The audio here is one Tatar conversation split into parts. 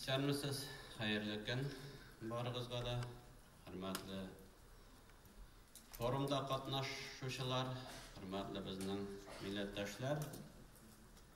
Исәнмесез, хәерле көн барыгызга да, хөрмәтле форумда катнашучылар, хөрмәтле безнең милләттәшләр.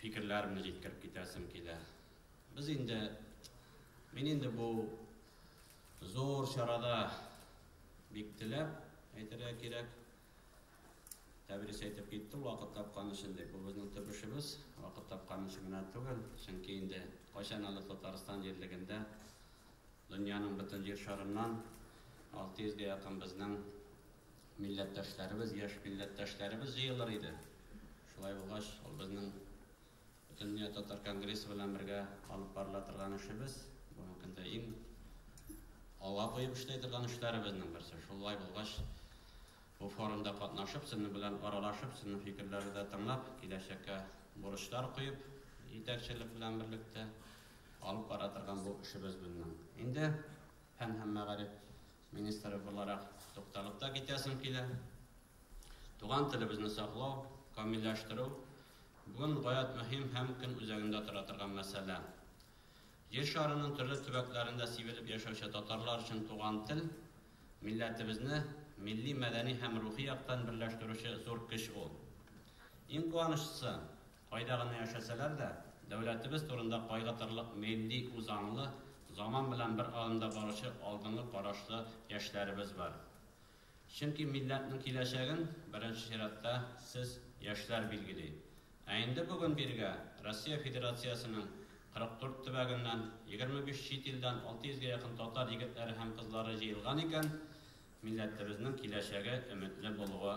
Фикерләремне җиткереп китәсем килә. Без инде, мин инде бу зур чарада бик теләп әйтергә кирәк, тәбрис әйтеп китте, вакыт тапкан өчен дип. Бу безнең төп эшебез, вакыт тапкан өчен генә түгел, чөнки инде кайчан әле Татарстан җирлегендә дөньяның бөтен җир шарыннан 600 гә якын безнең Милләттәшләребез, яшь милләттәшләребез җыелыр иде. Шулай булгач, ул безнең Бөтендөнья татар конгрессы белән бергә алып барыла торган эшебез. Бүгенге көндә иң алга куеп эшли торган эшләребезнең берсе. Шулай булгач, бу форумда катнашып, сезнең белән аралашып, сезнең фикерләрне дә тыңлап, киләчәккә бурычлар куеп, җитәкчелек белән берлектә алып бара торган бу эшебез безнең. Инде фән һәм мәгариф министры буларак тукталып та китәсем килә. Туган телебезне саклау, камилләштерү бүген гаять мөһим һәм көн үзәгендә тора торган мәсьәлә. Җир шарының төрле төбәкләрендә сибелеп яшәүче татарлар өчен туган тел, милләтебезне милли, мәдәни һәм рухи яктан берләштерүче зур көч ул. Иң куанычлысы, Кайда гына яшәсәләр дә, дәүләтебез турында кайгыртырлык милли үзаңлы, заман белән бер адымда баручы алдынгы карашлы яшьләребез бар. Чөнки милләтнең киләчәген, беренче чиратта, сез, яшьләр билгели. Ә инде бүген бирегә Россия Федерациясенең 44 төбәгеннән, 25 чит илдән 600 гә якын татар егетләре һәм кызлары җыелган икән, милләтебезнең киләчәге өметле булуы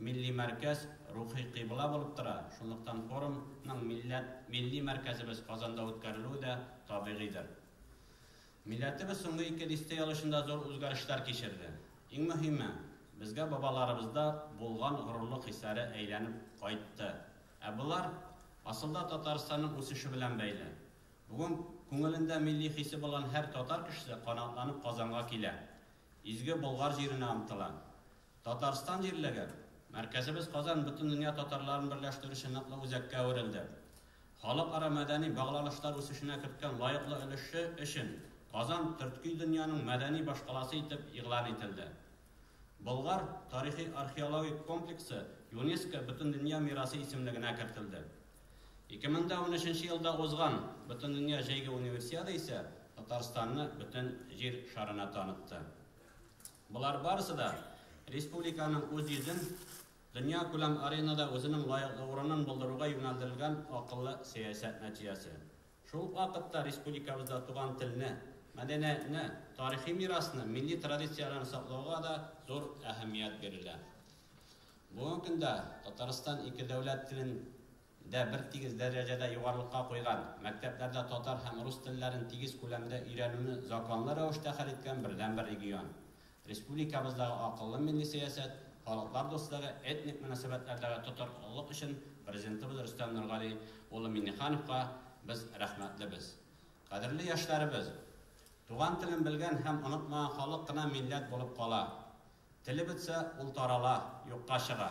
Милли мәркәз рухи кыйбла булып тора, шунлыктан форум ның милләт, милли мәркәзебез Казанда үткәрелүе дә табигыйдыр. Милләтебез соңгы ике дистәял эчендә зур үзгәрешләр кичерде. Иң мөһиме, безгә бабаларыбызда булган горурлык хисләре әйләнеп кайтты. Ә болар, асылда, Татарстанның үсеше белән бәйле. Бүген күңелендә милли хисе булган һәр татар кешесе канатланып Казанга килә, изге Болгар җиренә омтыла. Татарстан җирлеге, мәркәзебез Казан бөтендөнья татарларын берләштерүче ныклы үзәккә әверелде. Халыкара мәдәни багланышлар үсешенә керткән лаеклы өлеше өчен Казан төртки дөньяның мәдәни башкаласы итеп игълан ителде. Болгар тарихи-археологик комплексы ЮНЕСКО бөтендөнья мирасы исемлегенә кертелде. Ике мең дә унөченче елда узган Бөтендөнья җәйге Универсиада исә Татарстанны бөтен Җир шарына танытты. Болар барысы да республиканың үз йөзен, дөньякүләм аренада үзенең лаеклы урынын булдыруга юнәлдерелгән акыллы сәясәт нәтиҗәсе. Шул ук вакытта республикабызда туган телне, мәдәниятне, тарихи мирасны, милли традицияләрне саклауга да зур әһәмият бирелә. Бүгенге көндә Татарстан ике дәүләт телен дә бертигез дәрәҗәдә югарылыкка куйган, мәктәпләрдә татар һәм рус телләрен тигез күләмдә өйрәнүне законлы рәвештә хәл иткән бердәнбер регион. Республикабыздагы акыллы милли сәясәт, халыклар дуслыгы, этник мөнәсәбәтләрдәге тотрыклылык өчен Президентыбыз Рөстәм Нургали улы Миңнехановка без рәхмәтлебез. Кадерле яшьләребез! Туган телен белгән һәм онытмаган халык кына милләт булып кала. Теле бетсә, ул тарала, юкка чыга.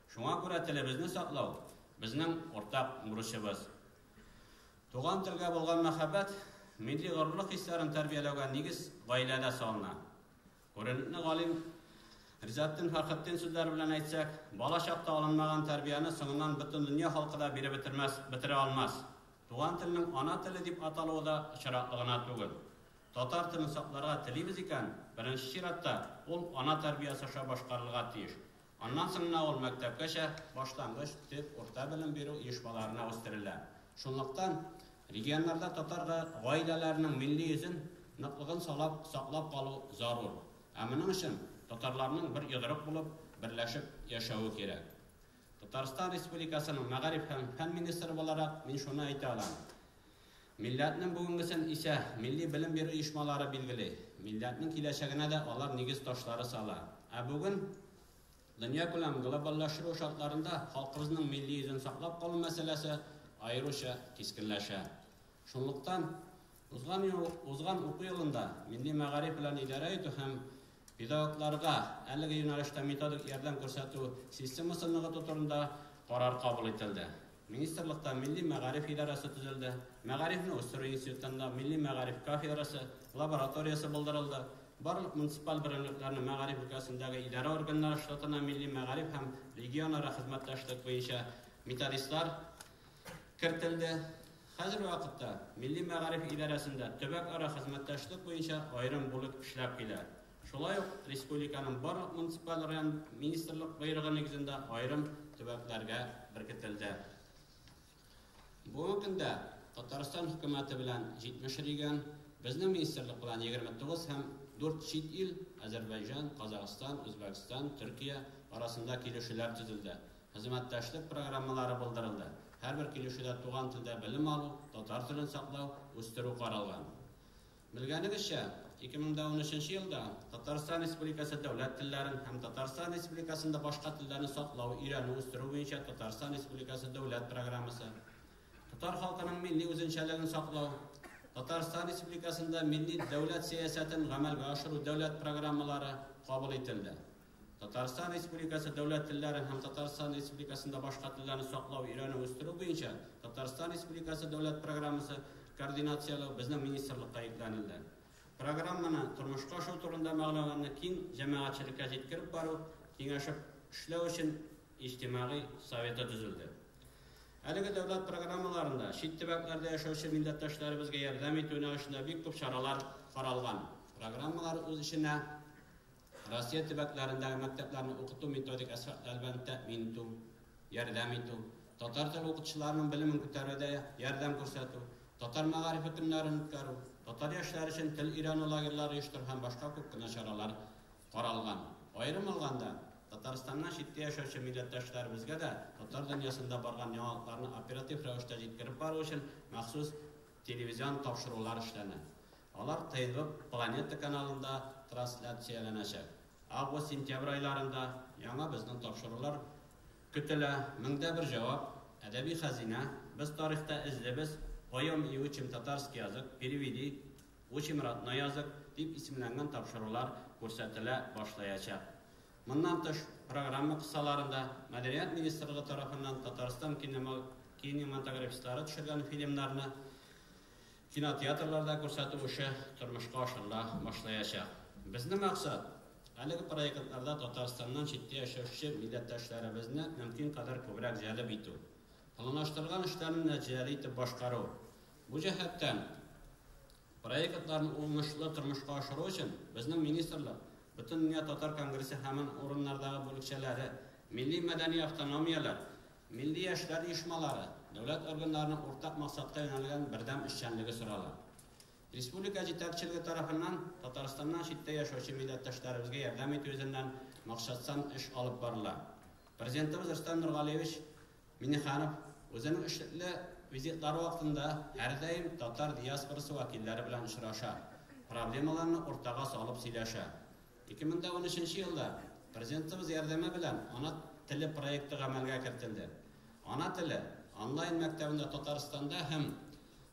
Шуңа күрә телебезне саклау, безнең уртак бурычыбыз. Туган телгә булган мәхәббәт, милли горурлык хисләрен тәрбияләүгә нигез гаиләдә салына. Күренекле галим Ризатдин Фәрхетдин сүзләре белән әйтсәк, бала чакта алынмаган тәрбияне соңыннан бөтен дөнья халкы да биреп бетермәс, бетерә алмас. Туган телнең ана теле дип аталуы да очраклы гына түгел. Татар телен сакларга телибез икән, беренче чиратта ул ана тәрбиясе аша башкарылырга тиеш. Аннан соң гына ул мәктәпкәчә, баштангыч, төп, урта белем бирү оешмаларына үстерелә. Шунлыктан, регионнарда татар гаиләләренең милли йөзен ныклыгын салап саклап калу зарур. Ә моның өчен татарларның бер йодрык булып, берләшеп яшәве кирәк. Татарстан Республикасының мәгариф һәм фән министры буларак мин шуны әйтә алам. Милләтнең бүгенгесен исә милли белем бирү оешмалары билгели, милләтнең киләчәгенә дә алар нигез ташлары сала. Ә бүген, дөньякүләм глобальләштерү шартларында, халкыбызның милли йөзен саклап калу мәсьәләсе аеруча кискенләшә. Шунлыктан, узган ел, узган уку елында Милли мәгариф белән идарә итү һәм Педагогларга әлеге юнәлештә методик ярдәм күрсәтү системасын ныгыту турында карар кабул ителде. Министрлыкта Милли мәгариф идарәсе төзелде, Мәгарифне үстерү институтында Милли мәгариф кафедрасы, лабораториясе булдырылды, барлык муниципаль берәмлекләрнең мәгариф өлкәсендәге идарә органнары штатына милли мәгариф һәм регионара хезмәттәшлек буенча методистлар кертелде. Хәзерге вакытта Милли мәгариф идарәсендә төбәкара хезмәттәшлек буенча аерым бүлек эшләп килә. Шулай ук республиканың барлык муниципаль район министрлык боерыгы нигезендә аерым төбәкләргә беркетелде. Бүгенге көндә Татарстан хөкүмәте белән 70 регион, безнең министрлык белән 29 һәм 4 чит ил, Әзербайҗан, Казахстан, Үзбәкстан, Төркия, арасында килешүләр төзелде. Хезмәттәшлек программалары булдырылды. Һәрбер килешүдә туган телдә белем алу, татар телен саклау, үстерү каралган. Белгәнегезчә, 2013 елда Татарстан Республикасы дәүләт телләрен һәм Татарстан Республикасында башка телләрне саклау, өйрәнү, үстерү буенча Татарстан Республикасы дәүләт программасы, Татар халкының милли үзенчәлеген саклау, Татарстан Республикасында милли дәүләт сәясәтен гамәлгә ашыру дәүләт программалары кабул ителде. Татарстан Республикасы дәүләт телләрен һәм Татарстан Республикасында башка телләрне саклау, өйрәнү, үстерү буенча Татарстан Республикасы дәүләт программасы координацияләү безнең министрлыкка йөкләнелде. Программаны тормышка ашу турында мәгълүматны киң җәмәгатьчелеккә җиткереп бару, киңәшеп эшләү өчен иҗтимагый советы төзелде. Әлеге дәүләт программаларында чит төбәкләрдә яшәүче милләттәшләребезгә ярдәм итү юнәлешендә бик күп чаралар каралган. Программалар үз эченә Россия төбәкләрендәге мәктәпләрне укыту-методик әсбаплар белән тәэмин итү, ярдәм итү, татар теле укытучыларының белемен күтәрүдә ярдәм күрсәтү, татар мәгарифе көннәрен үткәрү, татар яшьләре өчен тел өйрәнү лагерьлары оештыру һәм башка күп кенә чаралар каралган. Аерым алганда, Татарстаннан читтә яшәүче милләттәшләребезгә дә татар дөньясында барган яңалыкларны оператив рәвештә җиткереп бару өчен махсус телевизион тапшырулар эшләнә. Алар Тыйгып планета каналында трансляцияләнәчәк. Август-сентябрь айларында яңа безнең тапшырулар көтелә, Мең дә бер җавап, Әдәби хәзинә, Без тарихта эзлибез, Поем и учим татарский язык, Переведи, Учим родной язык дип исемләнгән тапшырулар күрсәтелә башлаячак. Моннан тыш, программа кысаларында Мәдәният министрлыгы тарафыннан Татарстан кинематографистлары төшергән фильмнарны, Кинотеатрларда күрсәтү эше тормышка ашырыла башлаячак. Безнең максат, әлеге проектларда Татарстаннан читтә яшәүче милләттәшләребезне мөмкин кадәр күбрәк җәлеп итү, планлаштырылган эшләрне нәтиҗәле итеп башкару. Бу җәһәттән, проектларны уңышлы тормышка ашыру өчен, безнең министрлык, Бөтендөнья татар конгрессы һәман урыннардагы бүлекчәләре, милли-мәдәни автономияләр, Милли яшьләр оешмалары, дәүләт органнарының уртак максатка юнәлгән бердәм эшчәнлеге сорала. Республика җитәкчелеге тарафыннан Татарстаннан читтә яшәүче милләттәшләребезгә ярдәм итү йөзеннән максатчан эш алып барыла. Президентыбыз Рөстәм Нургалиевич Миңнеханов үзенең эшлекле визитлары вакытында һәрдаим татар диаспорасы вәкилләре белән очраша, проблемаларны уртага салып сөйләшә. Ике мең дә унөченче елда Президентыбыз ярдәме белән Ана теле проекты гамәлгә кертелде. Ана теле онлайн мәктәбендә Татарстанда һәм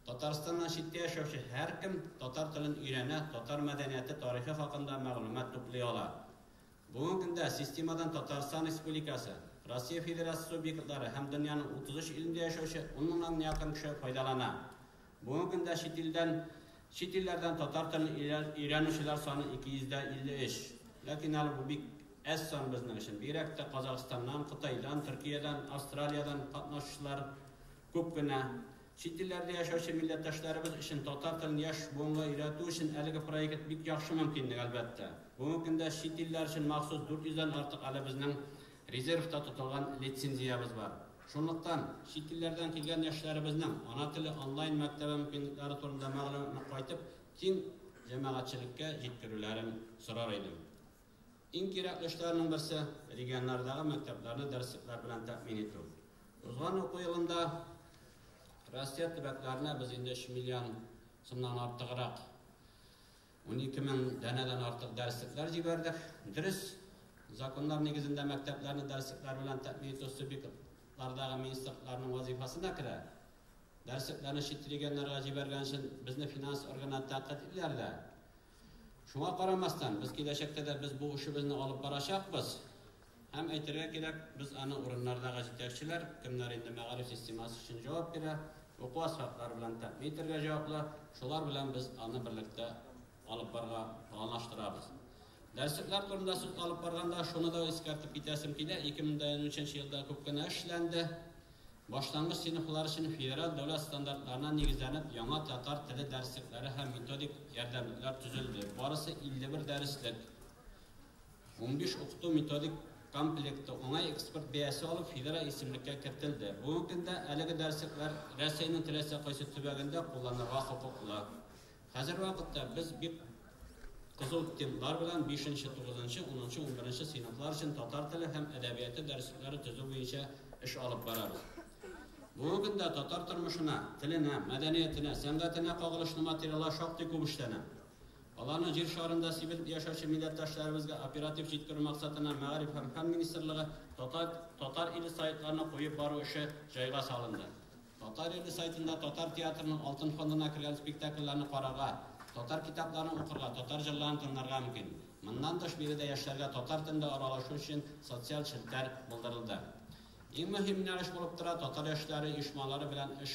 Татарстаннан читтә яшәүче һәркем татар телен өйрәнә, татар мәдәнияте, тарихы хакында мәгълүмат туплый ала. Бүгенге көндә системадан Татарстан Республикасы, Россия Федерациясе субъектлары һәм дөньяның 33 илендә яшәүче ун меңнан якын кеше файдалана. Бүгенге көндә чит илдән, чит илләрдән татар телен өйрәнүчеләр саны 253. Ләкин әле бу бик әз сан безнең өчен. Бигрәк тә Казахстаннан, Кытайдан, Төркиядән, Австралиядән катнашучылар күп кенә. Чит илләрдә яшәүче милләттәшләребез өчен татар телен яшь буынга өйрәтү өчен әлеге проект бик яхшы мөмкинлек, әлбәттә. Бүгенге көндә чит илләр өчен махсус 400 дән артык әле безнең Резервта тотылган лицензиябез бар. Шунлыктан, чит илләрдән килгән яшьләребезнең Ана теле онлайн мәктәбе мөмкинлекләре турында мәгълүматны кайтып киң җәмәгатьчелеккә җиткерүләрен сорар идем. Иң кирәкле эшләрнең берсе, регионнардагы мәктәпләрне дәреслекләр белән тәэмин итү. Узган уку елында Россия төбәкләренә без инде өч миллион сумнан артыграк, Унике мең данәдән артык дәреслекләр җибәрдек. Дөрес, законнар нигезендә мәктәпләрне дәреслекләр белән тәэмин итү субъектлардагы министрлыкларның вазифасына керә. Дәреслекләрне чит регионнарга җибәргән өчен безне финанс органнары тәнкыйть итәләр дә. Шуңа карамастан, без киләчәктә дә без бу эшебезне алып барачакбыз. Һәм әйтергә кирәк, без аны урыннардагы җитәкчеләр, кемнәр инде мәгариф системасы өчен җавап бирә, уку асфальтлары белән тәэмин итәргә җаваплы, шулар белән без аны берлектә алып барырга планлаштырабыз. Дәреслекләр турында сүз алып барганда, шуны да искәртеп китәсем килә, 2023 елда күп кенә эш эшләнде. Башлангыч сыйныфлар өчен федераль дәүләт стандартларына нигезләнеп, яңа татар теле дәреслекләре һәм методик ярдәмлекләр төзелде, барысы 51 дәреслек. Унбиш укыту-методик комплекты уңай экспорт бәясе алып федераль исемлеккә кертелде. Бүгенге көндә әлеге дәреслекләр Рәсәйнең теләсә кайсы төбәгендә кулланырга хокуклы. Хәзерге вакытта без бик кызу темплар белән бишенче, тугызынчы, унынчы, унберенче сыйныфлар өчен татар теле һәм әдәбияты дәреслекләре төзү буенча эш алып барабыз. Бүгенге көндә татар тормышына, теленә, мәдәниятенә, сәнгатенә кагылышлы материаллар шактый күп эшләнә. Аларны җир шарында сибелеп яшәүче милләттәшләребезгә оператив җиткерү максатына Мәгариф һәм фән министрлыгы Татар Татар иле сайтларына куеп бару эше җайга салынды. Татар иле сайтында татар театрының алтын фондына кергән спектакльләрне карарга, татар китапларын укырга, татар җырларын тыңларга мөмкин. Моннан тыш биредә яшьләргә татар телендә аралашу өчен социаль челтәр булдырылды. Иң мөһим юнәлеш булып тора татар яшьләре оешмалары белән эш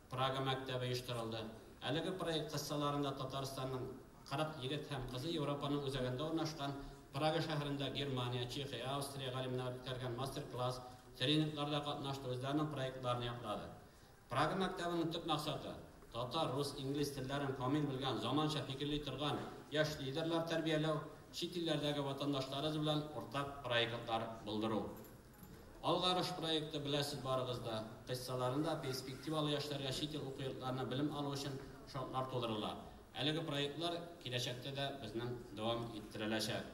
Прага мәктәбе оештырылды. Әлеге проект кысаларында Татарстанның 40 егет һәм кызы Европаның үзәгендә урнашкан Прага шәһәрендә Германия, Чехия, Австрия галимнәре үткәргән мастер-класс, тренингларда катнашты, үзләренең проектларын яклады. Прага мәктәбенең төп максаты, татар, рус, инглиз телләрен камил белгән, заманча фикерли торган яшь лидерлар тәрбияләү, чит илләрдәге ватандашларыбыз белән уртак проектлар булдыру. Алгарыш проекты, беләсез барыгыз да, кыйссаларында перспективалы яшьләргә чит ил уку йортларына белем алу өчен шартлар тудырыла. Әлеге проектлар киләчәктә дә безнең дәвам иттереләчәк.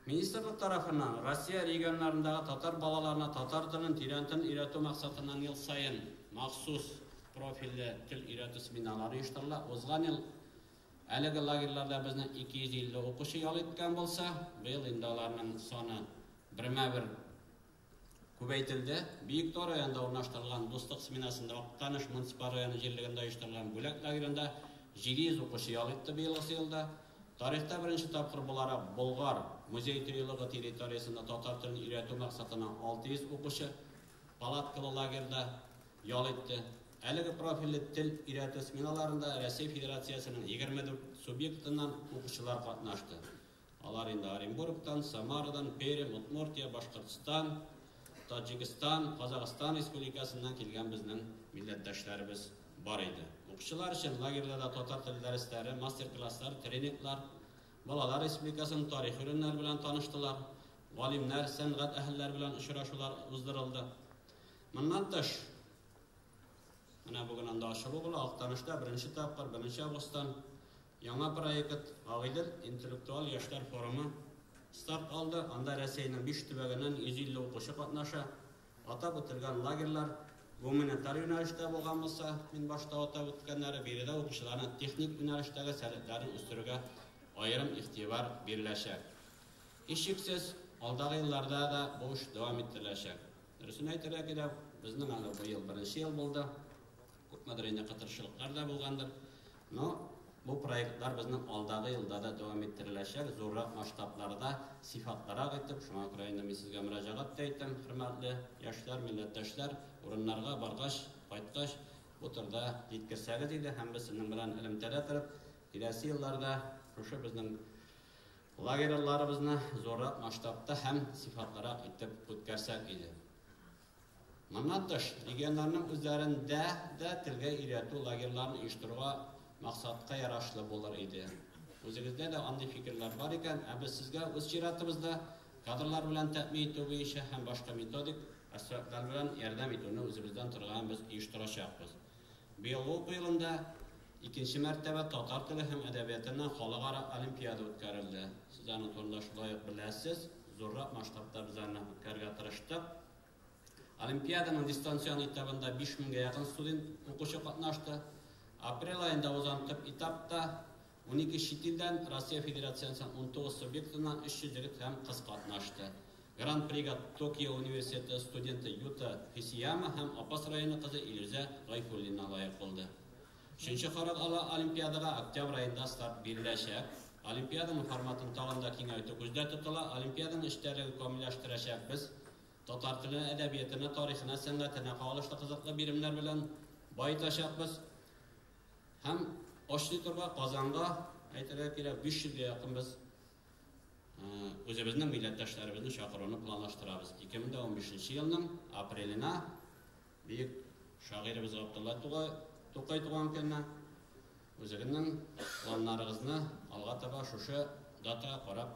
Министрлык тарафыннан Россия регионнарындагы татар балаларына татар телен тирәнтен өйрәтү максатыннан ел саен махсус профильле тел өйрәтү семинарлары оештырыла. Узган ел әлеге лагерьларда безнең 250 укучы ял иткән булса, быел инде аларның саны Бермә-бер күбәйтелде. Биектау районында урнаштырылган Дуслык сменасында, Актаныш муниципаль районы җирлегендә оештырылган Бүләк лагеренда 700 укучы ял итте быелгысы елда. Тарихта беренче тапкыр буларак Болгар музей-тыюлыгы территориясендә татар телен өйрәтү максатына 600 укучы палаткалы лагерьда ял итте. Әлеге профильле тел өйрәтү сменаларында Россия Федерациясенең 24 субъектыннан укучылар катнашты. Алар инде Оренбургтан, Самарадан, Пермь, Удмуртия, Башкортстан, Таҗикстан, Казахстан республикасыннан килгән безнең милләттәшләребез бар иде. Укучылар өчен лагерьда да татар теле дәресләре, мастер-класслар, тренинглар, балалар республикасының тарих урыннары белән таныштылар, галимнәр, сәнгать әһелләре белән очрашулар уздырылды. Моннан тыш, менә бүген анда ачылу була, Актанышта беренче тапкыр, беренче августтан Яңа проект Агыйдел интеллектуаль яшьләр форумы старт алды. Анда Рәсәйнең биш төбәгеннән 150 укучы катнаша. Атап үтелгән лагерьлар гуманитар юнәлештә булган булса, мин башта атап үткәннәре, биредә укучыларның техник юнәлештәге сәләтләрен үстерүгә аерым игътибар биреләчәк. Һичшиксез, алдагы елларда да бу эш дәвам иттереләчәк. Дөресен әйтергә кирәк, безнең аны быел беренче ел булды. Күпмедер инде кытыршылыклар да булгандыр. Но бу проектлар безнең алдагы елда да дәвам иттереләчәк, зуррак масштабларда, сыйфатлырак итеп. Шуңа күрә инде мин сезгә мөрәҗәгать тә итәм, хөрмәтле яшьләр, милләттәшләр, урыннарга баргач, кайткач, бу турыда җиткерсәгез иде һәм без сезнең белән элемтәдә торып, киләсе елларда шушы безнең Лагерьларыбызны зуррак масштабта һәм сыйфатлырак итеп үткәрсәк иде. Моннан тыш, регионнарның үзләрендә дә телгә өйрәтү лагерьларын оештыруга максатка ярашлы булыр иде. Үзегездә дә андый фикерләр бар икән, ә без сезгә үз чиратыбызда кадрлар белән тәэмин итү буенча һәм башка методик аспектлар белән ярдәм итүне үзебездән торган без оештырачакбыз. Быелгы уку елында икенче мәртәбә татар теле һәм әдәбиятыннан халыкара олимпиада үткәрелде. Сез аны турында шулай ук беләсез. Зуррак масштабта без аны үткәрергә тырыштык. Олимпиаданың дистанцион этабында 5000 гә якын студент укучы катнашты. Апрель аенда узган төп этапта Унике чит илдән, Россия Федерациясеннән унтугыз субъектыннан 300 егет һәм кыз катнашты. Гран-прига Токио университеты студенты Юта Хисияма һәм Апас районы кызы Илүзә Гайфуллина лаек булды. Өченче карар ала олимпиадага октябрь аенда старт биреләчәк. Олимпиаданың форматын тагын да киңәйтү күздә тотыла. Олимпиаданың эчтәлеген камилләштерәчәкбез. Татар теленә, әдәбиятына, тарихына, сәнгатенә кагылышлы кызыклы биремнәр белән баетачакбыз. Һәм ач литрга, Казанга, әйтергә кирәк, 500 гә якын без үзебезнең милләттәшләребезне чакыруны планлаштырабыз. 2015 елның апреленә бөек шагыйребез Габдулла Тугай, Тукай туган көнне үзегезнең планнарыгызны алга таба шушы датага карап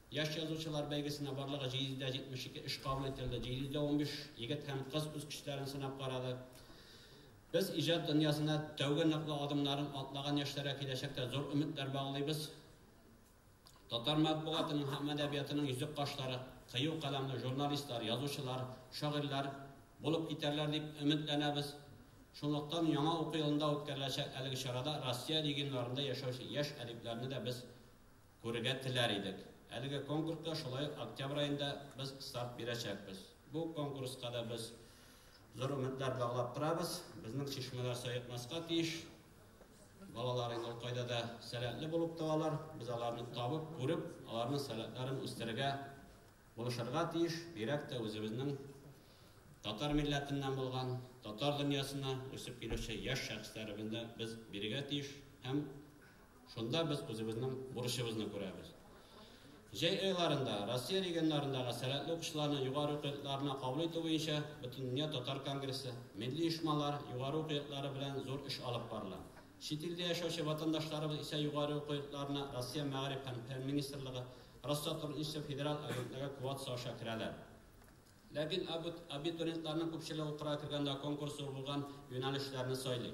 Яшь язучылар бәйгесенә барлыгы 772 эш кабул ителде, 715 егет һәм кыз үз көчләрен сынап карады. Без иҗат дөньясына тәүге ныклы адымнарын атлаган яшьләргә киләчәктә зур өметләр баглыйбыз. Татар матбугатының һәм әдәбиятының йөзек кашлары, кыю каләмле журналистлар, язучылар, шагыйрьләр булып китәрләр дип өметләнәбез. Шунлыктан яңа уку елында үткәреләчәк әлеге чарада Россия регионнарында яшәүче яшь әдипләрне дә без Күрергә теләр идек. Әлеге конкурска шулай ук октябрь аенда без старт бирәчәкбез. Бу конкурска да без зур өметләр баглап торабыз. Безнең чишмәләр саекмаска тиеш. Балалар инде ул кайда да сәләтле булып туалар. Без аларны табып, күреп, аларның сәләтләрен үстерергә, булышырга тиеш. Бигрәк тә үзебезнең татар милләтеннән булган, татар дөньясына үсеп килүче яшь шәхесләребезне без бирергә тиеш һәм, Шунда без үзебезнең бурычыбызны күрәбез. Җәй айларында Россия регионнарындагы сәләтле укучыларны югары уку йортларына кабул итү буенча Бөтендөнья татар конгрессы, милли оешмалар, югары уку йортлары белән зур эш алып барыла. Чит илдә яшәүче ватандашларыбыз исә югары уку йортларына Россия Мәгариф һәм фән министрлыгы, Россотрудничество федераль агентлыгы квотасы аша керәләр. Ләкин абитуриентларның күпчелеге укырга кергәндә конкурс зур булган юнәлешләрне сайлый.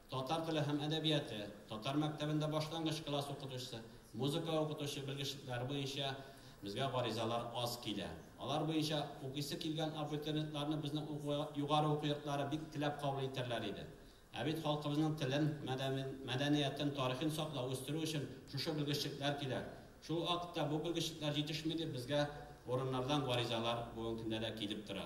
Татар теле һәм әдәбияты, татар мәктәбендә башлангыч класс укытучысы, музыка укытучы белгечлекләре буенча безгә гаризалар аз килә. Алар буенча укыйсы килгән абитуриентларны безнең уку югары уку йортлары бик теләп кабул итәрләр иде. Ә бит халкыбызның телен, мәдәниятен, тарихын саклау, үстерү өчен шушы белгечлекләр кирәк. Шул вакытта бу белгечлекләр җитешми дип безгә урыннардан гаризалар бүген көндә дә килеп тора.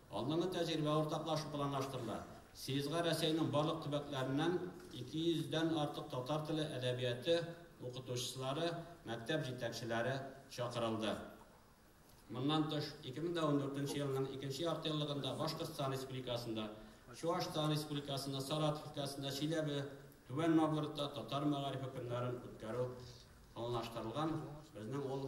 Алдынгы тәҗрибә уртаклашу планлаштырыла. Съездга Рәсәйнең барлык төбәкләреннән 200 дән артык татар теле әдәбияты укытучылары, мәктәп җитәкчеләре чакырылды. Моннан тыш, 2014 елның икенче яртыеллыгында Башкортстан Республикасында, Чуашстан Республикасында, Саратов өлкәсендә, Чиләбе, Түбән Новгородта татар мәгарифе көннәрен үткәрү планлаштырылган. Безнең ул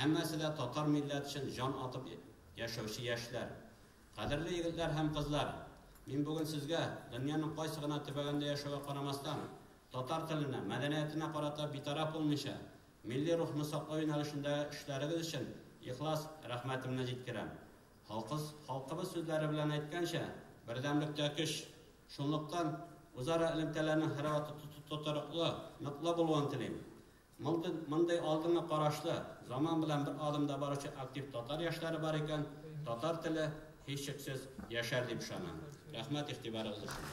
Һәммәсе дә татар милләт өчен җан атып яшәүче яшьләр. Кадерле егетләр һәм кызлар! Мин бүген сезгә, дөньяның кайсы гына төбәгендә яшәүгә карамастан, татар теленә, мәдәниятенә карата битараф булмыйча, милли рухны саклау юнәлешендәге эшләрегез өчен ихлас рәхмәтемне җиткерәм. Халкыс, халкыбыз сүзләре белән әйткәнчә, бердәмлектә көч. Шунлыктан, үзара элемтәләрнең һәрвакыт тотрыклы, ныклы булуын телим. Монда мондый алдынгы карашлы, заман белән бер адымда баручы актив татар яшьләре бар икән, татар теле, һичшиксез, яшәр дип ышанам. Рәхмәт игътибарыгыз өчен!